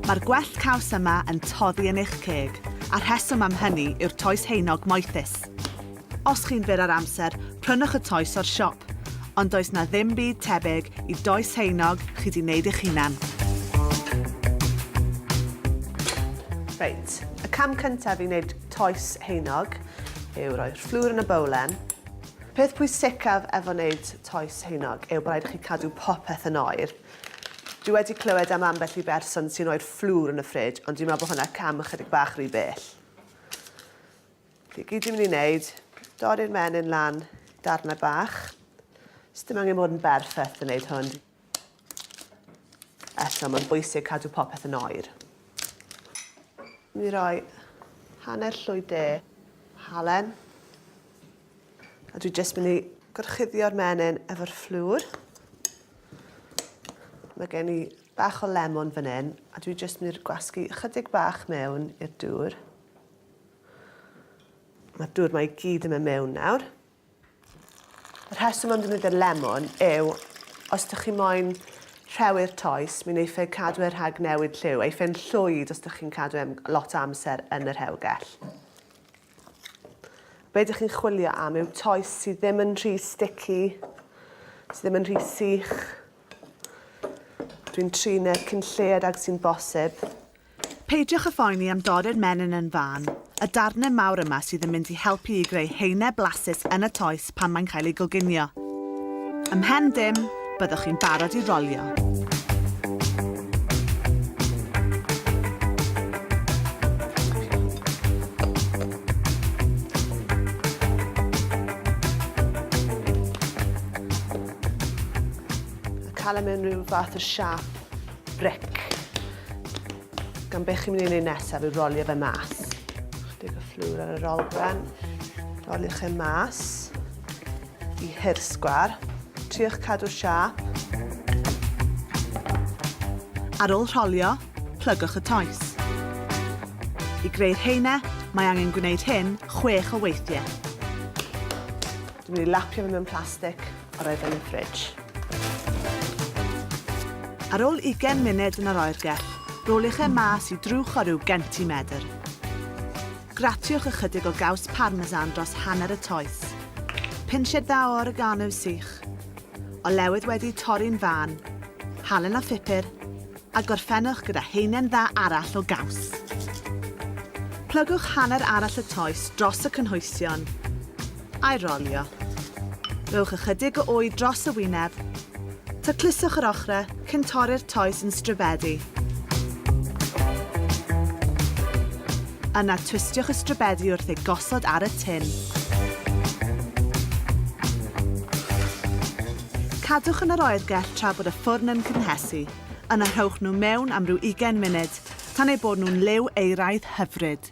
Mae'r gwell caws yma yn toddi yn eich ceg, a rheswm am hynny yw'r toes heinog moethus. Os chi'n fyr ar amser, prynwch y toes o'r siop, ond does na ddim byd tebyg i does heinog chi di wneud eich hunan. Reit, y cam cyntaf i wneud toes heinog yw roi'r fflwr yn y bowlen, Peth pwysicaf efo wneud toes heugnog yw bod rhaid i chi cadw popeth yn oer. Dwi wedi clywed am ambell i berson sy'n rhoi'r fflwr yn y ffrij, ond dwi'n meddwl bod hwnna cam ychydig bach rhy bell. Felly, gyd dwi'n mynd i wneud, dorri'r menyn lan darnau bach. Sdim angen bod yn berffaith yn wneud hwn. Eto, mae'n bwysig cadw popeth yn oer. Mi roi hanner llwy de halen. A dwi jyst mynd i gorchuddio'r menyn efo'r fflwr. Mae gen i bach o lemon fan hyn, a dwi jyst mynd i'r gwasgu ychydig bach mewn i'r dŵr. Mae'r dŵr mae i gyd yn mynd mewn nawr. Y rheswm am ddefnyddio'r lemon yw os dych chi moyn rhewi'r toes, mi wneiff e cadw e rhag newid lliw. Eiff e'n llwyd os dych chi'n cadw e am lot o amser yn y rhewgell. Be dych chi'n chwilio am yw toes sydd ddim yn rhy sticky, sydd ddim yn rhy sych. Dwi'n trin e cyn lled ag sy'n bosib. Peidiwch â phoeni am dorri'r menyn yn fân, y darnau mawr yma sydd yn mynd i helpu i greu haenau blasus yn y toes pan mae'n cael ei goginio. Ymhen dim, byddwch chi'n barod i rolio. Cael e mewn rhyw fath o siâp. bric. Gan be chi'n mynd i wneud nesaf yw rolio fe mas. Chydig o fflwr ar yr olwen. Roliwch e mas i hirsgwar. Triwch cadw'r siap. Ar ôl rholio, plygwch y toes. I greu'r heine, mae angen gwneud hyn chwech o weithiau. Dwi'n mynd i lapio fe mewn plastig. Ar ôl yn y ffridge. Ar ôl ugain munud yn yr oergell, roliwch e mas i drwch o ryw gentimetr. Gratiwch ychydig o gaws parmesan dros hanner y toes. Pinsied dda o oregano sych. Olewydd wedi torri'n fân. Halen a phupur. a gorffennwch gyda haenen dda arall o gaws. Plygwch hanner arall y toes dros y cynhwysion, a'i rolio. Rhowch ychydig o wy dros y wyneb. Tacluswch yr ochrau cyn torri'r toes yn stribedi. Yna twistiwch y stribedi wrth ei gosod ar y tin. Cadwch yn yr oergell tra bod y ffwrn yn cynhesu. Yna rhowch nhw mewn am ryw ugain munud, tan eu bod nhw'n liw euraidd hyfryd.